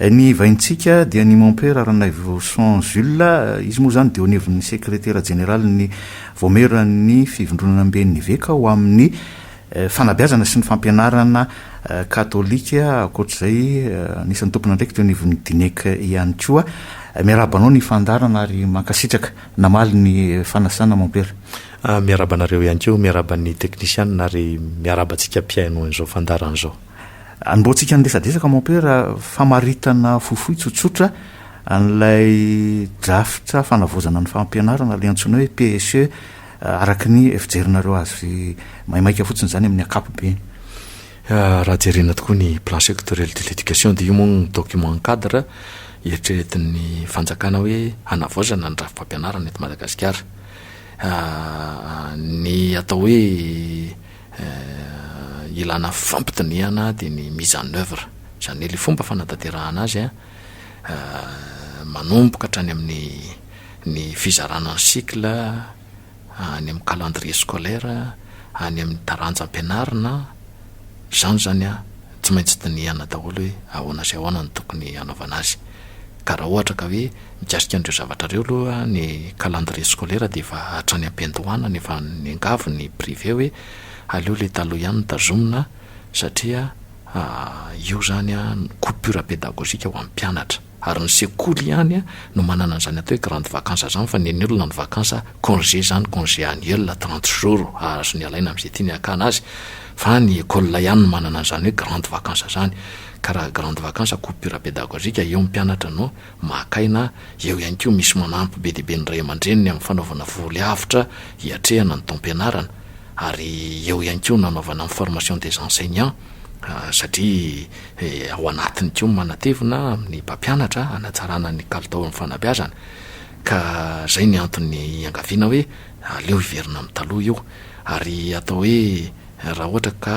Ny vahintsika dia ny mompera Ranaivoson Jules, izy moa izany dia eo anivon'ny sekretera jeneralin'ny Vaomieran'ny Fivondronana Amben'ny Eveka ho amin'ny Fanabeazana sy ny Fampianarana Katolika, ankoatra izay anisan'ny tompon'andraikitra eo anivon'ny Dinec ihany koa. Miarahaba anao ny fandaharana ary mankasitraka namaly ny fanasana mompera. Miarahaba anareo ihany koa, miarahaba ny teknisianina ary miarahaba antsika mpihaino an'izao fandaharana izao. Anombohantsika ny resadresaka Mompera, famaritana fohifohy tsotsotra an'ilay drafitra fanavaozana ny fampianarana, ilay antsoina hoe PSE, araka ny fijerinareo azy maimaika fotsiny izany amin'ny ankapobeny. Raha jerena tokoa ny Plan sectoriel de l'Education dia io moa no document cadre eritreretin'ny fanjakana hoe hanavaozana ny drafi-pampianarana eto Madagasikara. Ny atao hoe. Ilana fampidinihana dia ny mise en œuvre, izany hoe ilay fomba fanatanterahana azy manomboka hatrany amin'ny ny fizarana ny cycle any amin'ny calendrier scolaire, any amin'ny taranja ampianarina, izany izany an, tsy maintsy dinihana daholo hoe ahoana sy ahoana no tokony hanaovana azy, ka raha ohatra ka hoe. Mikasika an'ireo zavatra ireo aloha ny calendrier scolaire dia efa hatrany am-piandohana no efa niangavy ny privé hoe aleo ilay taloha ihany no tazomina satria io izany no coupure pédagogique ho an'ny mpianatra. Ary ny sekoly ihany no manana an'izany atao hoe grande vacance izany fa ny an'ny olona ny vacance congé izany congé annuel trente jours azony alaina amin'izay tiany hakana azy fa ny école ihany no manana an'izany hoe grande vacance izany ka raha grande vacance coupure pédagogique eo ny mpianatra no maka aina, eo ihany koa misy manampy be dia be ny ray aman-dreniny amin'ny fanaovana voly avotra hiatrehana ny taom-pianarana ary eo ihany koa ny nanaovana ny formation des enseignants satria ao anatiny koa ny manatevina amin'ny mpampianatra hanatsarana ny kalitao amin'ny fanabeazana ka izay ny antony iangaviana hoe aleo hiverina amin'ny taloha io ary atao hoe Raha ohatra ka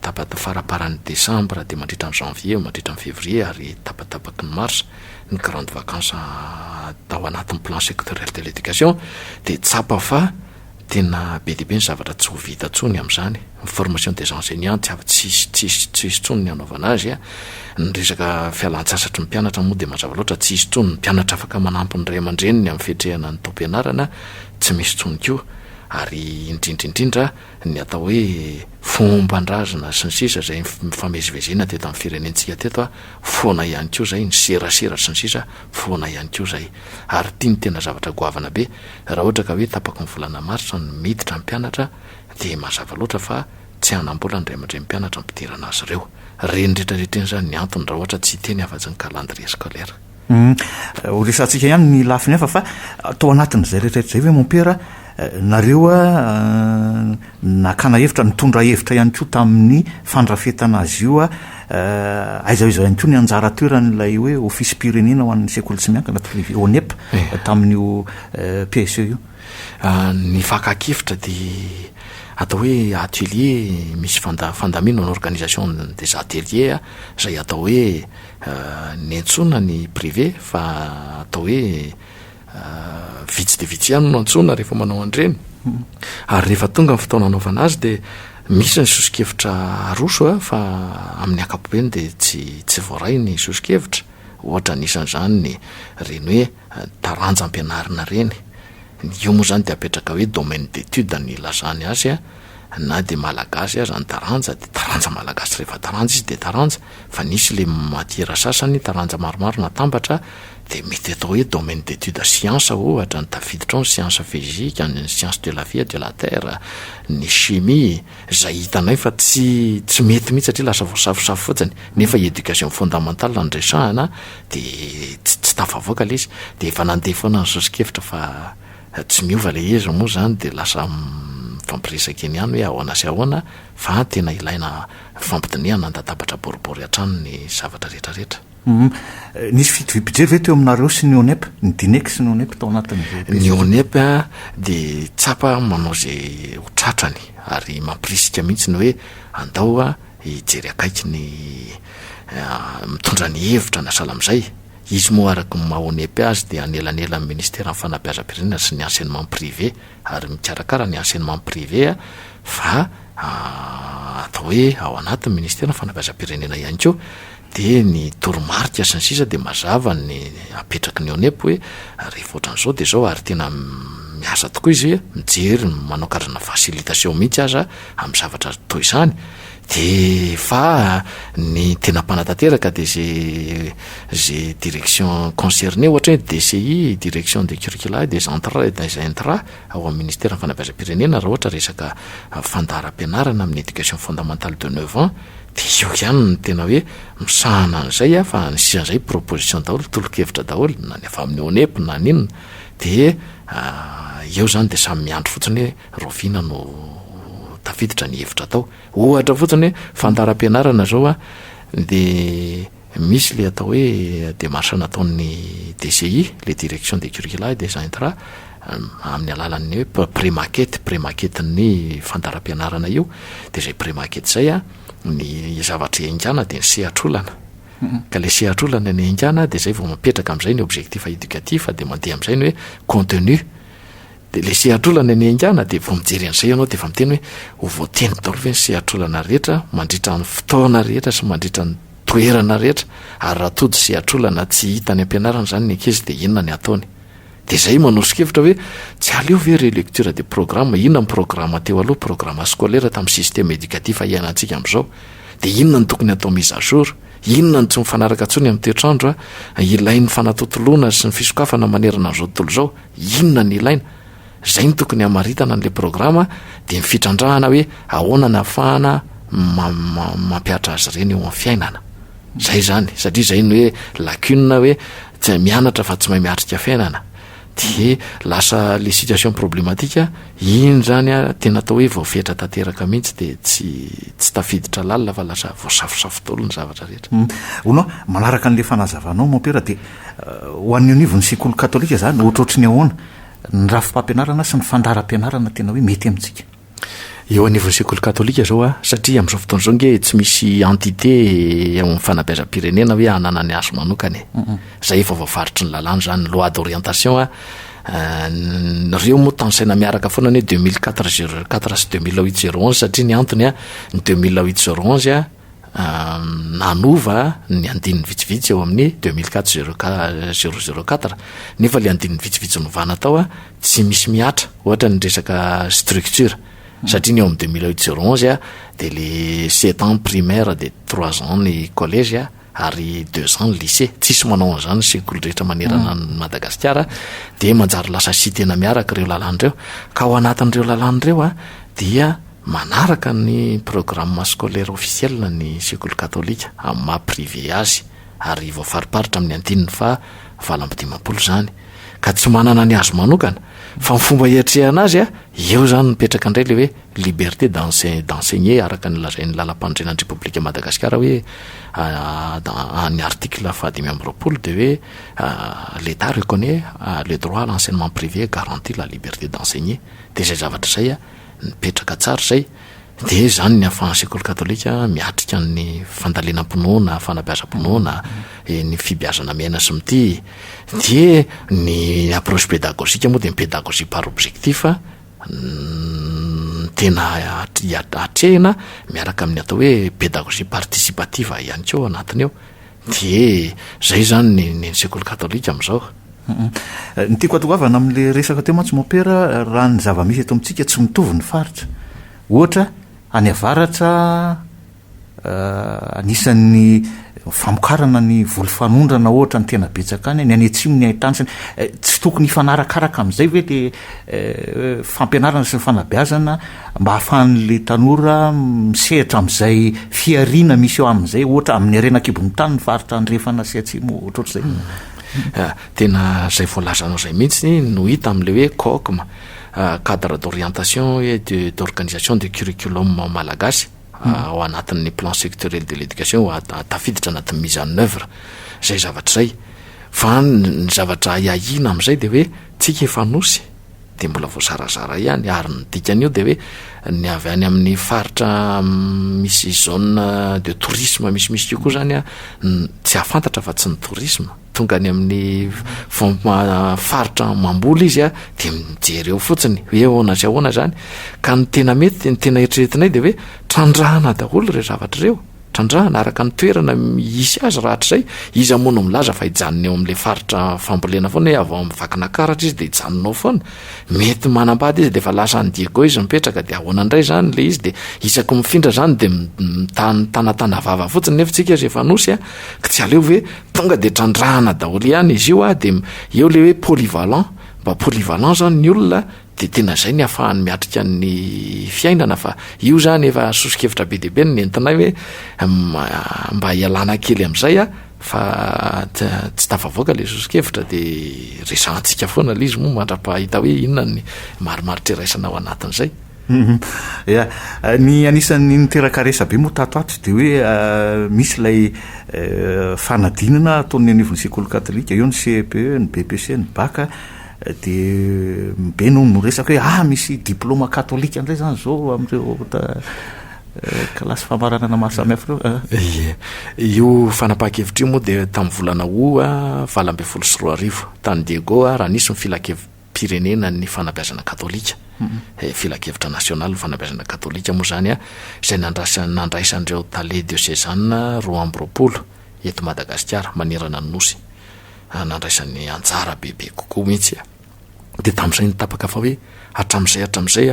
tapaky ny faraparan'ny desambra dia mandritra ny janvier, mandritra ny février ary tapatapaky ny mars ny grandes vacances tao anatin'ny plan sectoriel de l'éducation dia tsapa fa tena be dia be ny zavatra tsy ho vita intsony amin'izany. Ny formation des enseignants tsy afa tsy tsy hisy intsony ny hanaovana azy, ny resaka fialantsasatry ny mpianatra moa dia mazava loatra tsy hisy intsony, ny mpianatra afaka manampy ny ray aman-dreniny amin'ny fiatrehana ny taom-pianarana tsy misy intsony koa. ary indrindra indrindra ny atao hoe fomban-drazana sy ny sisa izay nifamezivezena teto amin'ny firenentsika teto foana ihany koa izay, ny serasera sy ny sisa foana ihany koa izay. Ary ity no tena zavatra goavana be, raha ohatra ka hoe tapaky ny volana marsa no miditra ny mpianatra dia mazava loatra fa tsy hanam-bola ny ray aman-dren'ny mpianatra hampidirana azy ireo. Renirietraretrena izany ny antony raha ohatra tsy hiteny afa-tsy ny calendrier scolaire. Humm, ho resahantsika ihany ny lafiny hafa fa tao anatin'izay rehetra rehetra izay ve mompera nareo nakana hevitra, nitondra hevitra ihany koa tamin'ny fandrafetana azy io, aiza aiza ihany koa ny anjara toeran'ilay hoe ofisim-pirenena ho an'ny sekoly tsy miankina, privé, ONEP, tamin'io PSE io? Ny fakan-kevitra dia atao hoe atelier, misy fanda-, fandamina, organisation des ateliers, izay atao hoe Niantsoana ny privé fa atao hoe vitsy dia vitsy ihany no antsoina rehefa manao an'ireny, ary rehefa tonga ny fotoana hanaovana azy dia misy ny sosokevitra aroso fa amin'ny ankapobeny dia tsy tsy voaray ny sosokevitra, ohatra anisan'izany ny reny hoe. taranja ampianarina reny, io moa zany dia apetraka hoe domaine d'étude ny ilazany azy a, na dia malagasy aza ny taranja dia taranja malagasy rehefa taranja izy dia taranja, fa nisy le matiera sasany taranja maromaro natambatra dia mety atao hoe domaine d'étude siansa ohatra ny tafiditra ao ny siansa fezika, ny siansa de la vie et de la terre, ny chimie, Izay hitanay fa tsy tsy mety mihitsy satria lasa voasafosafo fotsiny, nefa éducation fondamentale no resahana dia tsy tsy tafavoaka ilay izy, dia efa nandeha foana ny soso-kevitra fa tsy miova ilay izy, moa izany dia lasa mifampiresaka eny ihany hoe ahoana sy ahoana fa tena ilaina fampidinihana handatabatra boribory hatrany ny zavatra rehetra rehetra. Humm. Nisy fitoviam-pije ve teo aminareo sy ny ONEP? Ny Dinex sy ny ONEP tao anatin'izay Ny pejy. ONEP dia tsapa manao izay ho tratrany ary mampirisika mihitsy ny hoe andao hijery akaiky ny mitondra ny hevitra na sahala amin'izay. Izy moa araka ny maha ONEP azy dia anelanelan'ny Ministeran'ny Fanabeazam-pirenena sy ny Enseignement Privé ary mikarakara ny Enseignement Privé fa atao hoe ao anatin'ny Ministeran'ny Fanabeazam-pirenena ihany koa Dia ny toromarika sy ny sisa dia mazava ny apetraky ny ONEP hoe rehefa ohatran'izao dia izao ary tena miasa tokoa izy mijery manao karazana facilitation mihitsy aza amin'ny zavatra toa izany dia fa ny tena mpanatanteraka dia ze ze direction concernée ohatra hoe DCI, direction des curricula et des entrées et des intra ao amin'ny ministeran'ny fanabeazam-pirenena raha ohatra resaka fandaharam-pianarana amin'ny éducation fondamentale de neuf ans Dia eo ihany no tena hoe misahana an'izay aho fa ny sisa izay proposition daholo, tolo-kevitra daholo, na ny avy amin'ny ONEP na ny inona, dia eo izany dia samy miandry fotsiny hoe rahoviana no tafiditra ny hevitra atao. Ohatra fotsiny hoe fandaharam-pianarana izao dia. Misy ilay atao hoe démarche nataon'ny DCI, ilay Direction des Curricula et des Intra, amin'ny alalan'ny hoe pré-maquette, pré-maquette-n'ny fandaharam-pianarana io, dia izay pré-maquette izay, ny zavatra ihaingàna dia ny sehatr'olana. Ka ilay sehatr'olana no ihaingàna, dia izay vao mipetraka amin'izay ny objectif éducatif, dia mandeha amin'izay ny hoe contenu. Dia ilay sehatr'olana no ihaingàna, dia vao mijery an'izay ianao dia efa miteny hoe, ho voateniko daholo ve ny sehatr'olana rehetra mandritra ny fotoana rehetra sy mandritra ny toerana rehetra ary raha tody sy atrola na tsy hita any ampianarana izany ny ankizy dia inona ny ataony? Dia izay manoso-kevitra hoe tsy aleo ve relecture de programme, inona ny programa teo aloha, programa scolaire tamin'ny système éducatif iainantsika amin'izao? Dia inona ny tokony atao mise à jour? Inona no tsy mifanaraka intsony amin'ny toetr'andro a? Ilain'ny fanatontoloana sy ny fisokafana manerana an'izao tontolo izao, inona ny ilaina? Izay no tokony hamaritana an'ilay programa dia ny fitrandrahana hoe ahoana ny hafahana mampiatra azy ireny eo amin'ny fiainana. Izay izany, satria izay ny hoe lacune hoe tsy mianatra fa tsy mahay miatrika fiainana. Dia lasa le situation problematika, iny izany a, tena atao hoe voafetra tanteraka mihitsy dia tsy tsy tafiditra lalina fa lasa voasafosafo daholo ny zavatra rehetra. Hono, manaraka an'ilay fanazavanao Mompera dia ho an'ny anivon'ny sekoly katolika izany ohatrohatry ny ahoana? ny rafi-pampianarana sy ny fandaharam-pianarana tena hoe mety amintsika eo anivon'ny sekoly katolika zao a, satria amin'izao fotoana izao nge tsy misy entité eo amin'ny fanabeazam-pirenena hoe hanana ny azy manokana e. Izay efa voafaritry ny lalàna izany, loi d'orientation a, euh, ireo moa tansaina miaraka foana ny 2004 04 sy 2008 01 satria ny antony a, ny 2008 01 a, nanova ny andininy vitsivitsy ao amin'ny deux mille quatre zero qua- zero zero quatre nefa le andininy vitsivitsy novana tao a tsy misy mihatra ohatra ny resaka structure satria ny ao amin'ny deux mille huit zero onze a de le sept ans primaire de trois ans ny collège a ary deux ans ny lycée tsisy manao an'izany ny sekoly rehetra manerana an'i Madagasikara dia manjary lasa site-na miaraka ireo lalàna ireo ka ao anatin'ireo lalàna ireo a dia Manaraka ny programme scolaire officiel ny sekoly katolika amin'ny maha privé azy ary voafariparitra amin'ny andininy faha valo amby dimampolo izany ka tsy manana ny azy manokana fa ny fomba hiatrehana azy a eo izany mipetraka indray ilay hoe liberté d'enseigner araka ny lazain'ny lalampanorenan'ny Repoblikan'i Madagasikara hoe any article faha dimy amby roapolo dia hoe l'Etat reconnaît le droit à l'enseignement privé garantit la liberté d'enseigner dia izay zavatra izay a Mipetraka tsara izay, dia izany ny ahafahan'ny sekoly katolika miatrika ny fandalinam-pinoana, fanabeazam-pinoana, ny fibeazana miaina sy mitia. Dia ny approche pédagogique moa dia ny pédagogie par objectif no tena atrehina miaraka amin'ny atao hoe pédagogie participative ihany koa ao anatiny ao. Dié zay izany ny ny ny sekoly katolika amin'izao. Ny tiako atongavana amin'ilay resaka teo mantsy Mompera, raha ny zava-misy eto amintsika tsy mitovy ny faritra. Ohatra, any avaratra anisan'ny famokarana ny voly fanondrana ohatra ny tena betsaka any, ny any atsimo ny haintany sy ny, tsy tokony hifanarakaraka amin'izay ve ilay fampianarana sy ny fanabeazana? mba ahafahan'ilay tanora misehatra amin'izay fihariana misy eo aminy izay, ohatra amin'ny harena an-kibon'ny tany ny faritra andrefana sy atsimo, ohatrohatr'izay no. Ah, tena izay voalazanao izay mihitsy no hita amin'ilay hoe COCM, ah, Cadre d'orientation et de d'organisation du curriculum malagasy, ah, ao anatin'ny Plan sectoriel de l'éducation, ah, ah, tafiditra anatin'ny mise en œuvre izay zavatra izay. Fa ny zavatra ahiahiana amin'izay dia hoe, tsika efa Anosy, dia mbola voazarazara ihany ary ny dikan'io dia hoe ny avy any amin'ny faritra misy zone de tourisme misimisy io koa zany a tsy hahafantatra fa tsy ny tourisme tonga any amin'ny fomba faritra mamboly izy a dia mijery eo fotsiny hoe ahoana sy ahoana zany ka ny tena mety ny tena eritreretinay dia hoe trandrahana daholo ireo zavatra ireo Trandrahana araka ny toerana misy azy rahatrizay, iza moa no milaza fa hijanona eo amin'ilay faritra fambolena foana hoe avy ao amin'ny Vakinakaratra izy dia hijanona ao foana? Mety manambady izy dia efa lasa any Diego izy mipetraka dia ahoana indray izany ilay izy dia isaky mifindra izany dia mitanatana vava fotsiny nefa isika aza efa nosy an! ka tsy aleo ve tonga dia trandrahana daholo ihany izy io an! dia eo ilay hoe polyvalent, mba polyvalent izany ny olona an! Dia tena izay ny hafahany miatrika ny fiainana fa io izany efa soso-kevitra be dia be no nentinay hoe mba hialana kely amin'izay a, fa tsy tafavoaka ilay soso-kevitra dia resahantsika foana ilay izy moa mandra-pahita hoe inona ny marimaritra iraisana ao anatin'izay. Ia, ny anisan'ny niteraka resabe moa tato ato dia hoe misy ilay fanadinana ataon'ny anivon'ny sekoly katolika, eo ny CEPE, ny BEPC, ny BAC, Dia be no miresaka hoe ah misy diploma katolika indray izany izao amin'ireo kilasy famaranana maro samihafa ireo. Ah. Ie. Io fanapahan-kevitra io moa dia tamin'ny volana Août valo ambin'ny folo sy roa arivo tany Diego raha nisy ny filankevi-pirenena ny fanabeazana katolika. Eh, filankevitra nasionaly ny fanabeazana katolika moa izany, izay nandraisan'ireo tale diosezana roa amby roapolo. eto Madagasikara manerana ny Nosy nandraisany anjara bebe kokoa mihitsy. Dia tamin'izay no tapaka fa hoe hatramin'izay hatramin'izay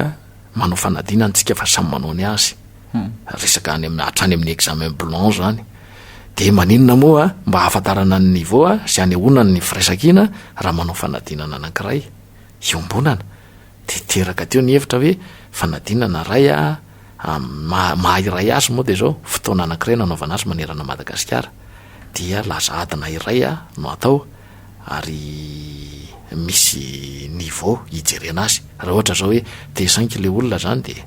manao fanadinana isika fa samy manao ny azy. Resaka any amin'ny hatrany amin'ny examen blanc izany. Dia maninona moa mba hahafantarana ny niveau sy hanehoana ny firaisankina raha manao fanadinana anankiray iombonana? Dia teraka teo ny hevitra hoe fanadinana na ray amin'ny maha maha iray azy moa dia izao, fotoana anankiray no hanaovana azy manerana an'i Madagasikara. Dia lasa adina iray no atao ary misy niveau hijerena azy. Raha ohatra izao hoe T5 ilay olona izany dia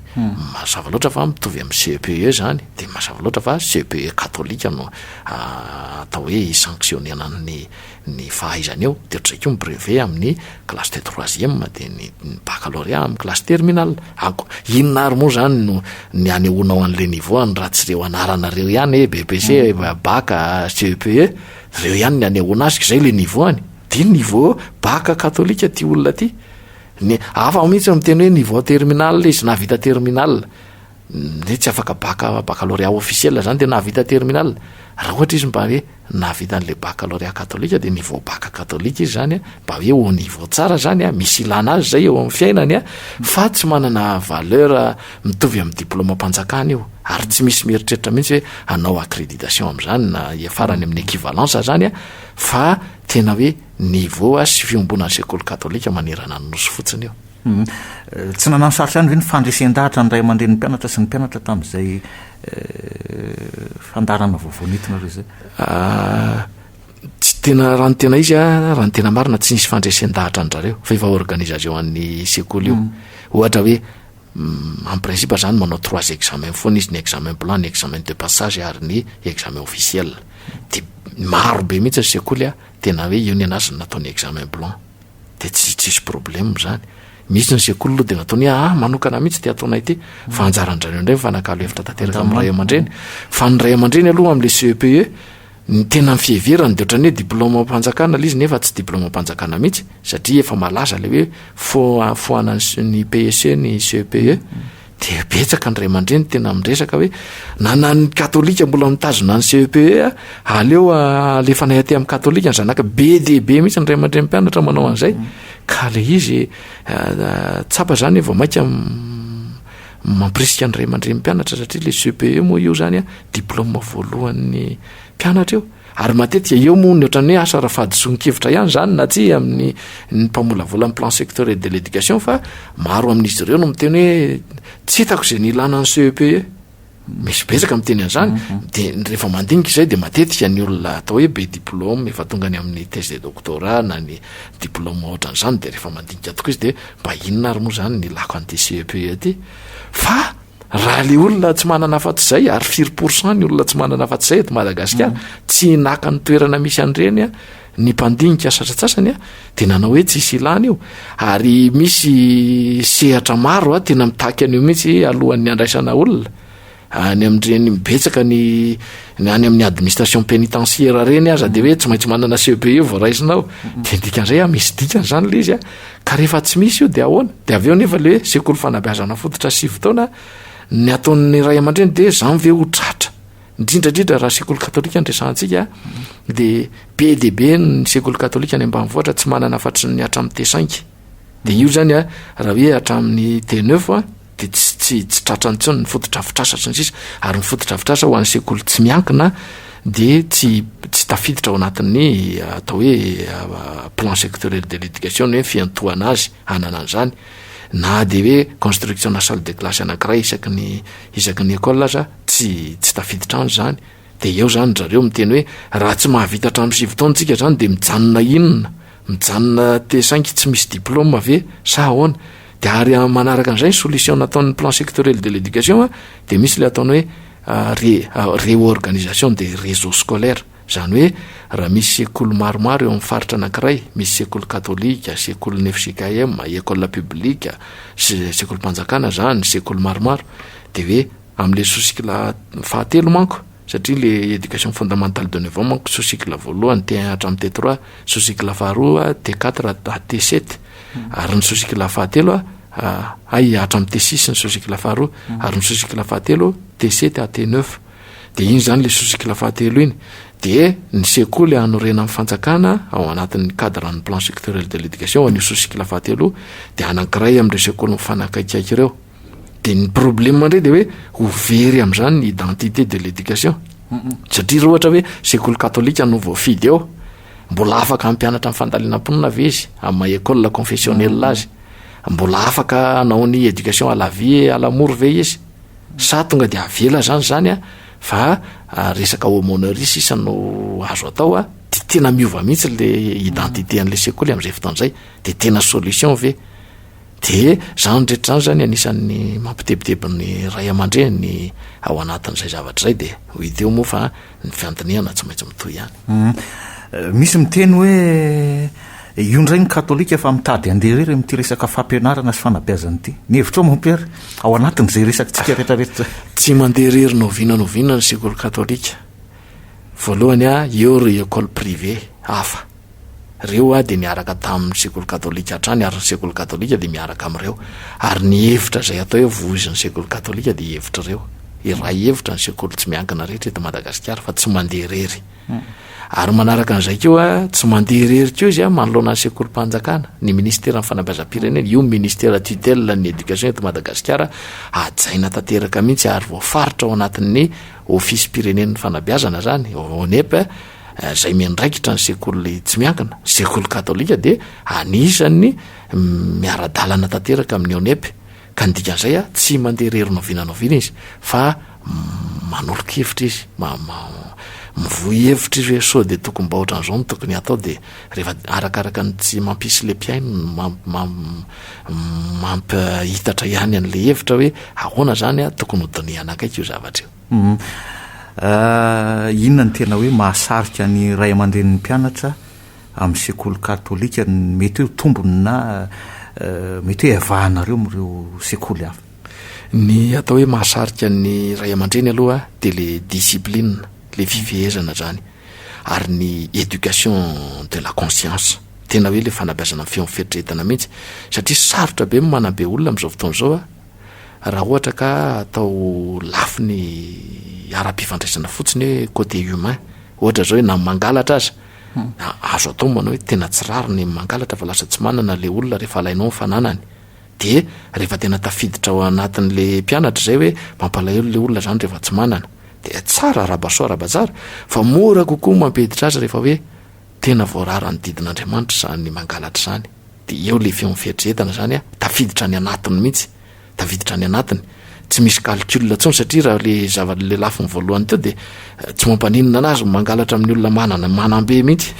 mazava loatra fa mitovy amin'ny CEPE izany, dia mazava loatra fa CEPE katolika no atao hoe hi-sanctionner-na ny. ny fahaizany eo dia ohatran'izay koa ny brevet amin'ny classe de troisième dia ny baccalauréat amin'ny classe terminale ako inona ary moa zany no ny anehoanao an'le niveau any raha tsy reo anarana reo ihany e BPC bac CEPE reo ihany ny anehoana azy k'izay le niveau any dia niveau bac katolika ty olona ty ny hafa mihitsy no miteny hoe niveau terminale izy nahavita terminale hoe tsy afaka bac baccalauréat officiel zany dia nahavita terminale raha ohatra izy mba hoe nahavita an'ilay baccalauréat katolika dia niveau bac katolika izy zany mba hoe haut niveau tsara zany a, misy ilana azy zay eo amin'ny fiainany a, fa tsy manana valeur mitovy amin'ny diplaomam-panjakana io, ary tsy misy mieritreritra mihitsy hoe hanao accréditation amin'izany na hiafarany amin'ny équivalence zany a, fa tena hoe niveau sy fiombonan'ny sekoly katolika manerana ny Nosy fotsiny io. Tsy nanano sarotra ihany ve ny fandresen-dahatra ny ray aman-drenin'ny mpianatra sy ny mpianatra tamin'izay Fandaharana vaovao nentina ireo izay? Ah, tsy tena raha ny tena izy a, raha ny tena marina tsy nisy fandresen-dahatra an-drareo fa efa organisation an'ny sekoly io. Mm. Ohatra hoe mm, en principe zany manao trois examens foana izy, ny examen blanc, ny examen de passage ary ny examen officiel. Dia maro be mihitsy ny sekoly a, tena hoe io ny anazy no nataony examen blanc. dia tsy tsisy problème zany. Mihitsy ny sekoly aloha dia natao ny ahy manokana mihitsy ity ataonay ity fa anjaran-dry indray mifanakalo hevitra tanteraka amin'ny ray aman-dreny fa ny ray aman-dreny aloha amin'le CEPE ny tena fiheverany dia ohatran'ny hoe diplôme am-panjakana ilay izy nefa tsy diplôme am-panjakana mihitsy satria efa malaza ilay hoe foa- foanan'ny PEC ny CEPE. Dia betsaka ny ray aman-dreny tena miresaka hoe na na ny katolika mbola mitazona ny CEPE a, aleo alefanay aty amin'ny katolika ny zanaka. Be dia be mihitsy ny ray aman-dreny mpianatra manao an'izay. Ka le izy tsapa zany vao mainka mampirisika ny ray aman-dreny mpianatra satria le CEPE moa io zany a diplôme voalohan'ny mpianatra io. Ary matetika eo moa ny ohatran'ny hoe asa ara-fahadisoan-kevitra ihany izany na tsia amin'ny ny mpamolavola ny plan sectoriel de l'éducation fa maro amin'izy ireo no miteny hoe tsy hitako izay ny ilàna ny CEPE. Misy betsaka miteny an'izany mhm. dia rehefa mandinika izay dia matetika ny olona atao hoe be diplôme efa tonga any amin'ny thèse de doctorat na ny diplôme ohatran'izany dia rehefa mandinika tokoa izy dia mba inona ary moa izany ny ilako an'ity CEPE ity fa Raha le olona tsy manana afa-tsy izay ary firy pourcent ny olona tsy manana afa-tsy izay eto Madagasikara, mm. tsy naka ny toerana misy an'ireny ny mpandinika satratsasany a dia nanao hoe tsisy ilana io ary misy sehatra maro a tena mitaky an'io mihitsy alohan'ny andraisana olona any amin'ireny mibetsaka ny ny any amin'ny administration pénitentiaire ireny aza dia hoe tsy maintsy manana CEPE vao raisinao dia dikan'izay a misy dikany izany le izy a Ka rehefa tsy misy io dia ahoana? Dia avy eo nefa ilay hoe sekoly fanabeazana fototra sivy taona ny ataon'ny ray aman-dreny dia izany ve ho tratra? Indrindra indrindra raha sekoly katolika no resahantsika dia be dia be ny sekoly katolika any ambanivohitra tsy manana afa-tsy ny hatramin'ny T5. Dia io izany raha hoe hatramin'ny T9 a. dia tsy tsy tsy tratra intsony ny fotodrafitrasa sy ny sisa ary ny fotodrafitrasa ho an'ny sekoly tsy miankina dia tsy tsy tafiditra ao anatin'ny atao hoe plan sectoriel de l'éducation ny hoe fiantohana azy hanana an'izany na dia hoe construction na salle de classe anankiray isaky ny isaky ny école aza tsy tsy tafiditra any izany Dia eo izany ry zareo miteny hoe raha tsy mahavita hatramin'ny sivy taona tsika izany dia mijanona inona? Mijanona te saingy tsy misy diplôme ve sa ahoana? Dia ary manaraka an'izay ny solution nataon'ny plan sectoriel de l'éducation dia misy ilay ataony hoe réorganisation des réseaux scolaires, izany hoe raha misy sekoly maromaro eo amin'ny faritra anankiray, misy sekoly katolika, sekolin'ny fjkm, école publique, sekolim-panjakana izany, sekoly maromaro, dia hoe. Amle sous-cycle fahatelo manko, satria le éducation fondamentale de neuf ans manko sous-cycle voalohany T un hatramin'ny T trois, sous-cycle faharoa T quatre à T sept, ary ny sous-cycle fahatelo hay hatramin'ny T six ny sous-cycle faharoa, ary ny sous-cycle fahatelo T sept à T neuf. Dia iny izany le sous-cycle fahatelo iny. Dia ny sekoly hanorenan'ny fanjakana ao anatin'ny cadre-n'ny plan sectoriel de l'éducation an'io sous-cycle fahatelo io, dia anankiray amin'ireo sekoly mifanakaikaiky ireo. de ny problema ndray de hoe ho very am'zany ny identité de l'éducation satria ra ohatra hoe sekoly katolika no voafidy eo mbola afaka ampianatra am fandalinam-ponina ve izy am ma école confessionnel azy mbola afaka anao ny éducation à la vie à la mort ve izy sa tonga de avela zany zany a fa ah, resaka homonerie sisa no azo atao a de tena miova mihitsy le identité an'le sekoly am'zay fotoan'zay de tena solution ve Dia izany rehetra izany izany anisan'ny mampitebiteby ny ray aman-dreny ao anatin'izay zavatra izay dia hita eo moa fa ny fiandinihana tsy maintsy mitohy ihany. Misy miteny hoe io indray ny katolika fa mitady handeha irery amin'ity resaka fampianarana sy fanabeazana ity. Ny hevitrao mon père ao anatin'izay resakintsika rehetrarehetra izay? Tsy mandeha irery na oviana na oviana ny sekoly katolika. Voalohany eo ireo école privée hafa. Ireo aho dia niaraka tamin'ny sekoly katolika hatrany ary ny sekoly katolika dia miaraka amin'ireo. Ary ny hevitra izay atao hoe voizin'ny sekoly katolika dia hevitr'ireo. Iray hevitra ny sekoly tsy miankina rehetra eto Madagasikara fa tsy mandeha irery. Ary manaraka an'izay koa, tsy mandeha irery koa izy manoloana ny sekolim-panjakana, ny ministeran'ny fanabeazam-pirenena, io ministera tutelle ny éducation eto Madagasikara, hajaina tanteraka mihitsy ary voafaritra ao anatin'ny ofisim-pirenen'ny fanabeazana izany, ONEP, izay miandraikitra ny sekoly tsy miankina, sekoly katolika dia anisan'ny miara-dalana tanteraka amin'ny ONEP, ka ny dikan'izay a, tsy mandeha irery noviana noviana izy fa manolo-kevitra izy, mivoy hevitra izy hoe sao dia tokom-bahotra an'izao no tokony hatao dia rehefa arakaraka ny tsy mampisy le mpihaino no mampihitatra ihany an'le hevitra hoe ahoana izany a, tokony ho dinihana akaiky io zavatra io. Inona no tena hoe mahasarika ny ray aman-drenin'ny mpianatra amin'ny sekoly katolika? Mety hoe tombony na mety hoe iavahanareo amin'ireo sekoly hafa? Ny atao hoe mahasarika ny ray aman-dreny aloha dia le discipline, le fifehezana zany, ary ny éducation de la conscience, tena hoe le fanabeazana amin'ny feon'ny fieritreretana mihitsy, satria sarotra be ny manabe olona amin'izao fotoana izao a, Raha ohatra ka atao lafiny ara-pifandraisana fotsiny hoe côté humain, ohatra zao hoe na mangalatra aza, na azo atao manao hoe tena tsy rariny ny mangalatra fa lasa tsy manana le olona rehefa alainao ny fananany. Dia rehefa tena tafiditra ao anatin'le mpianatra izay hoe mampalahelo le olona zany rehefa tsy manana. Dia tsara arabasoa arabatsara fa mora kokoa mampiditra azy rehefa hoe tena voarara ny didin'Andriamanitra izany mangalatra izany. Dia eo ilay feon'ny fieritreretana izany an, tafiditra any anatiny mihitsy, tafiditra any anatiny. Tsy misy calcul intsony satria raha ilay zava, ilay lafiny voalohany teo dia tsy mampaninona anazy ny mangalatra amin'ny olona manana, manam-be mihitsy.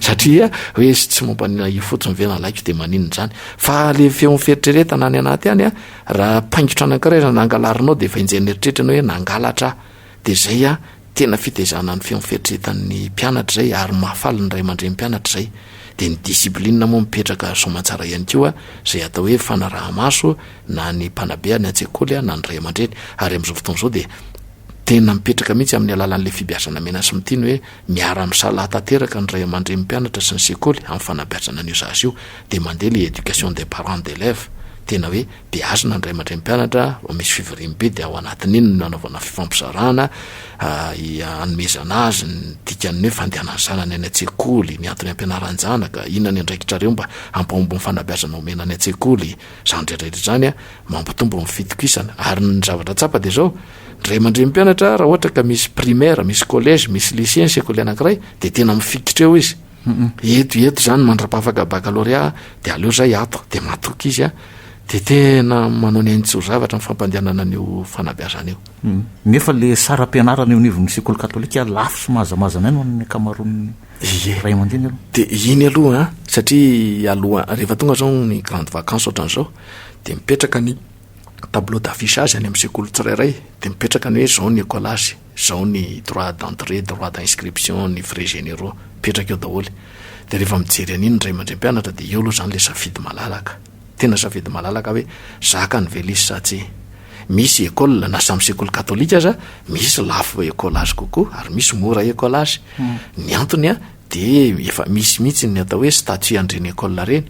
Satria hoe izy tsy mampaninona io fotsiny ve nalaiko dia maninona izany. Fa ilay feon'ny fieritreretana any anaty any an, raha paingotra anankiray izany angalarinao dia efa enjehin'ny eritreritranao hoe nangalatra aho. Dia izay a, tena fitaizana ny feon'ny fieritreretan'ny mpianatra izay ary mahafaly ny ray aman-dren'ny mpianatra izay. Dia ny discipline moa mipetraka soamantsara ihany koa izay atao hoe fanaraha-maso na ny mpanabe any an-tsekoly na ny ray aman-dreny. Ary amin'izao fotoana izao dia tena mipetraka mihitsy amin'ny alalan'ilay fibiazana mena sy miteny hoe miara-misalahy tanteraka ny ray aman-dren'ny mpianatra sy ny sekoly amin'ny fanabeazana an'io zaza io. Dia mandeha ilay éducation des parents d'élèves, tena hoe dia azo na ny ray aman-dreny mpianatra vao misy fivoriam be dia ao anatin'iny no nanaovana fifampizarana hanomezana azy ny dikan'ny hoe fandehanan'ny zanany any an-tsekoly, ny antony ampianaran-janaka, inona ny andraikitrareo mba hampahomby ny fanabeazana omena any an-tsekoly, izany rehetrarehetra izany an, mampitombo ny fitokisana, ary ny zavatra tsapa dia izao, ny ray aman-dreny mpianatra raha ohatra ka misy primaire, misy collège, misy lycée ny sekoly anankiray dia tena mifikitra eo izy. Humm eto eto zany mandra-pahafaka baccalauréat de aleo zay ato de matoky izy an de tena manao ny ainy tsy ho zavatra ny fampandehanana an'io fanabeazana io. Nefa le saram-pianarana eo anivon'ny sekoly katolika lafo sy mahazamazana aina ho an'ny ankamaroan'ny Ie. ray aman-dreny aloha. De iny aloha an satria aloha rehefa tonga zao ny grande vacance ohatran'izao de mipetraka ny tableau d'affichage any amin'ny sekoly tsirairay de mipetraka ny hoe zao ny ecolage. Zao ny droit d'entrée, droit d'inscription, ny frais généraux, mipetraka eo daholo. Dia rehefa mijery an'iny ny ray aman-dreny mpianatra dia eo aloha izany ilay safidy malalaka. Tena safidy malalaka hoe zakany ve lisy sa tsia. Misy école na samy sekoly katolika aza misy lafo école azy kokoa ary misy mora école azy. Ny antony dia efa misy mihitsy ny atao hoe statut an'ireny école ireny.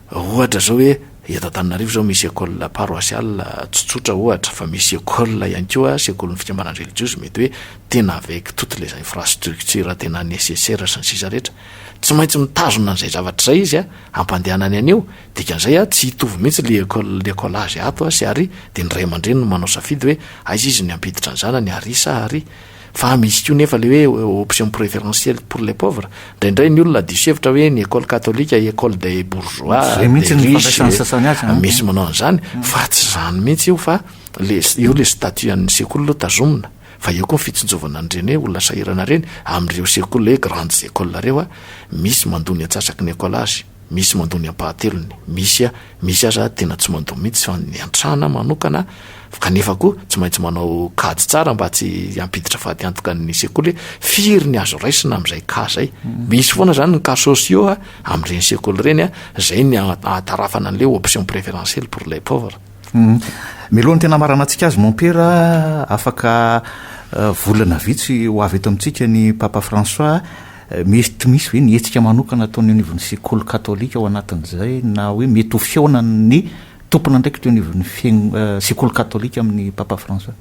Raha ohatra zao hoe eto Antananarivo zao misy école paroissiale tsy tsotra ohatra fa misy école ihany koa sekolin'ny fikambanana relijiozy mety hoe tena avec toutes les infrastructures tena nécessaires sy ny sisa rehetra tsy maintsy mitazona an'izay zavatra izay izy hampandehanany an'io dikan'izay a tsy hitovy mihitsy le école l'écolage ato sy ary dia ny ray aman-dreny no manao safidy hoe aiza izy no hampiditra ny zanany ary sa ary Fa misy koa nefa le hoe option preferentielle pour les pauvres. Ndraindray ny olona diso hevitra hoe ny école katolika école des bourgeois, Zay mihitsy des ny riches, fandraisan'ny sasany azy, an. misy manao an'izany, fa tsy izany mihitsy io fa le eo le statut an'ny sekoly aloha tazomina, fa eo koa ny fitsinjovana an'ireny hoe olona sahirana ireny, amin'ireo sekoly le grandes écoles ireo, misy mandoa ny antsasaky ny école azy. Misy mandoa ny ampahatelony, misy misy aza tena tsy mandoa mihitsy fa ny an-trana manokana kanefa koa tsy maintsy manao kajy tsara mba tsy hampiditra fatiantoka ny sekoly hoe firy ny azo raisina amin'izay cas izay. Misy foana izany ny cas sociaux amin'ireny sekoly ireny, izay ny ahatarafana an'ilay option préférentielle pour les pauvres. Mialohan'ny tena hamaranantsika azy mompera afaka volana vitsy ho avy eto amintsika ny Papa François, Mety misy ve ny hetsika manokana ataon'ny eo anivon'ny sekoly katolika ao anatin'izay na hoe mety ho fihaonan'ny tompon'andraikitra eo anivon'ny sekoly katolika amin'ny Papa François?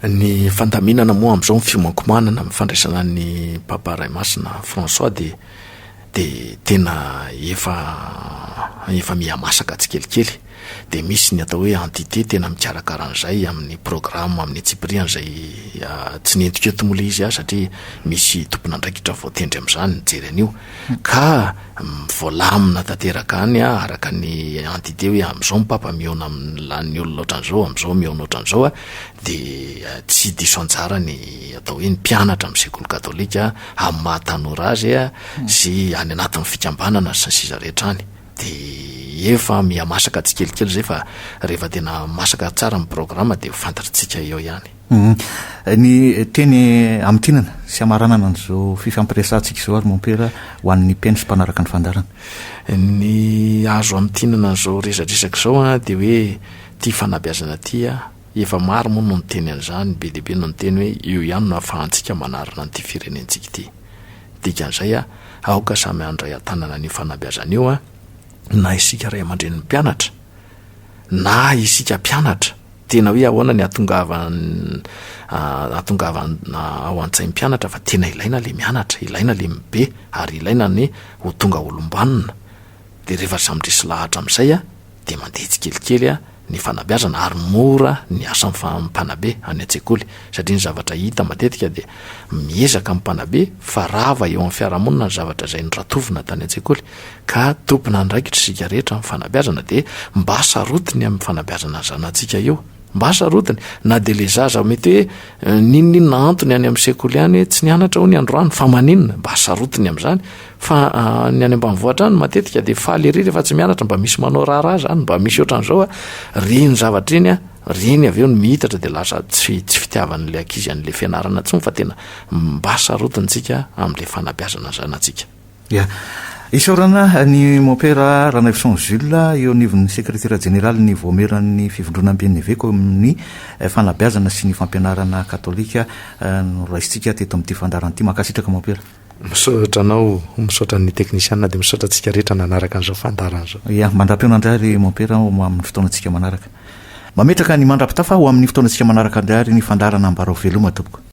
Ny fandaminana moa amin'izao ny fiomankomanana amin'ny fandraisana ny Papa Ray Masina François dia dia tena efa efa miha masaka tsikelikely. dia misy ny atao hoe entité tena mikarakara an'izay amin'ny programme amin'ny antsipirihany izay tsy nentiko eto moa ilay izy aho satria misy tompon'andraikitra voatendry amin'izany mijery an'io ka voalamina tanteraka any aho araka ny entité hoe amin'izao ny papa mihaona amin'ny lanin'ny olona ohatran'izao amin'izao mihaona ohatran'izao a dia tsy diso anjara ny atao hoe ny mpianatra amin'ny sekoly katolika amin'ny maha tanora azy sy any anatin'ny fikambanana sy ny sisa rehetra any Dia efa mihamasaka tsikelikely izay fa rehefa tena masaka tsara ny programa dia ho fantatritsika eo ihany. Ny teny hamintinana sy hamaranana an'izao fifampiresahantsika izao ary Mompera ho an'ny mpihaino sy mpanaraka ny fandaharana? Ny azo hamintinana an'izao resadresaka izao dia hoe ity fanabeazana ity, efa maro moa no niteny an'izany, be dia be no niteny hoe eo ihany no ahafahantsika manarina an'ity firenentsika ity. Dikan'izay, aoka samy handray an-tanana an'io fanabeazana io, na isika ray aman-drenin'ny mpianatra, na isika mpianatra. Tena hoe ahoana ny hahatongavana ao an-tsain'ny mpianatra fa tena ilaina ilay mianatra, ilaina ilay mibe, ary ilaina ny ho tonga olom-banona. Dia rehefa samy resy lahatra amin'izay dia mandeha tsikelikely. ny fanabeazana ary mora ny asan'ny mpanabe any an-tsekoly satria ny zavatra hita matetika dia miezaka ny mpanabe fa rava eo amin'ny fiarahamonina ny zavatra izay noratovina tany an-tsekoly ka tompon'andraikitra isika rehetra amin'ny fanabeazana dia mba sarotiny amin'ny fanabeazana ny zanatsika io mba sarotiny na dia le zaza mety hoe eh, ninoninona antony any amin'ny sekoly any tsy nianatra ho ny androany fa maninona mba sarotiny amin'izany Fa ny any ambanivohitra any matetika dia faly ery rehefa tsy mianatra mba misy manao raharaha zany mba misy ohatran'izao a re ny zavatra iny a re ny avy eo ny mihitatra dia lasa tsy tsy fitiavan'la ankizy an'la fianarana tsony fa tena mba sarotintsika amin'la fanabeazana ny zanatsika. Ia. Isaorana ny Mompera Ranaivoson Jules eo anivon'ny Sekretera Jeneralin'ny Vaomieran'ny Fivondronamben'ny Eveka eo amin'ny Fanabeazana sy ny Fampianarana Katolika noraisintsika teto amin'ity fandaharana ity. Mankasitraka Mompera. Misaotra anao, misaotra ny teknisiana dia misaotra antsika rehetra nanaraka an'izao fandaharana izao. Ia, mandra-pihaona indray ary Mompera ho amin'ny fotoanantsika manaraka. Mametraka ny mandra-pitafa ho amin'ny fotoanantsika manaraka indray ary ny fandaharana Ambarao Veloma tompoko.